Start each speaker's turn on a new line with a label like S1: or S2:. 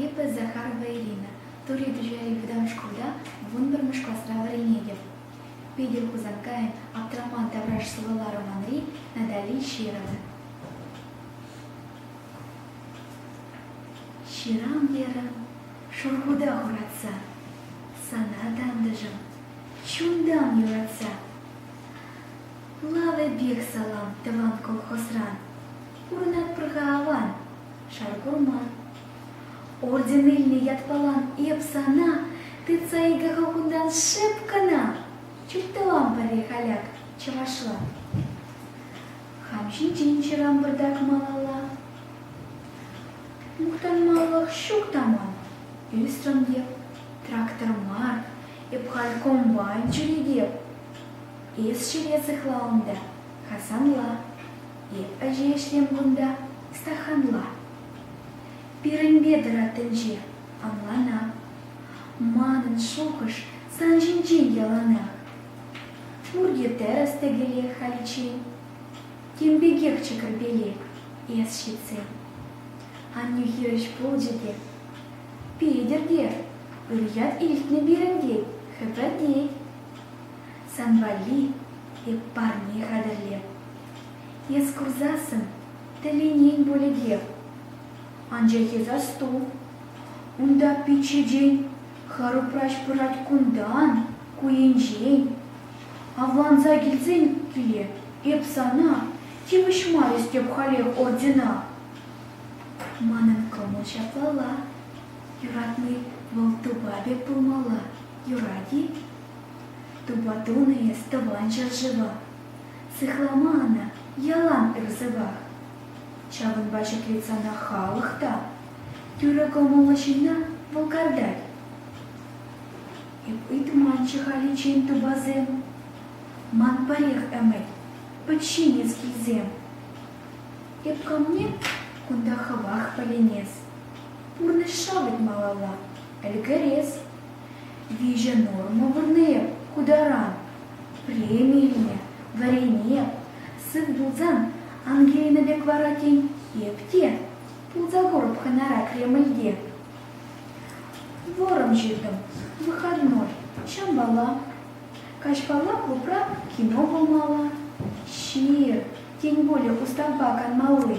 S1: Эпӗ Захарова Ирина, Тури Туҫари вӑтам шкулта вунпӗрмӗш класра вӗренетӗп. Питӗр Хусанкайӑн Аптраман тавраш сӑвӑла романри Натали Щирова. Ҫырам терӗм, шурхута хуратса, сана тантӑшӑм, чунтан юратса. Лавӗпех салам тӑван колхозран. Курӑнатпӑр-ха аван, шар курман. Орден илнӗ ятпалан эп сана тытса икӗ кунтан шеп кӑна. Чуптӑвам пӗрех аляк чӑвашла. Хам ҫинчен ҫырам пӑртак малалла. Мухтанмаллах ҫук та ман, ӳсрӗм эп, трактор мар, эп халь комбайн ҫӳретеп. Эс ҫине сыхла унта, Хасанла, Эп ӗҫе ӗҫлем кунта, Стаханла. Пирӗнпе тӑрат тӗнче, ӑнлана. Манӑн шухӑш сан ҫинчен яланах. Пурте тӗрӗс тӗкӗле халиччен. Тем пекех чӗкӗрпелек эс ҫитсен. Аннӳ хирӗҫ пулчӗ те. Петӗр те, ыр ят илтнӗ пирӗн тет, хӗпӗртет. Сан валли эп парне хатӗрлем. Эс курсассӑн тӗлӗнен пулӗ Анчах эс асту, унта пичче Харупраҫ пырать кунтан, ку енчен. Авланса килсен киле эп сана тивӗҫмарӗс тӗп халех ордена. Манӑн кӑмӑл ҫаплалла. Юратни вӑл тупа пек пулмалла, юрать-и? Тупа тунӑ эс Тӑван ҫӗршыва. Сыхлама ӑна, ялан ыр-сӑпах. Ҫавӑнпа ҫӗклет сана халӑх та. Тӳрӗ кӑмӑллӑ ҫынна вӑл картать. Эп ыйтманччӗ халиччен тупасем. Ман пӗрех ӗмӗт, подчинец килсем. Эп камне кунта хӑвах пӗленес. пурнӑҫа мӗн малалла ӗлкӗрес, виҫӗ норма пурни ку таран преми илме вӗренме сыв пулсан Ангелина пек вара тен эп те пулса курӑп хӑнара Кремльте. Вӑрӑм ҫыртӑм выходной ҫампала каҫпалла клубра кино пулмалла ҫир тен более устав канмалли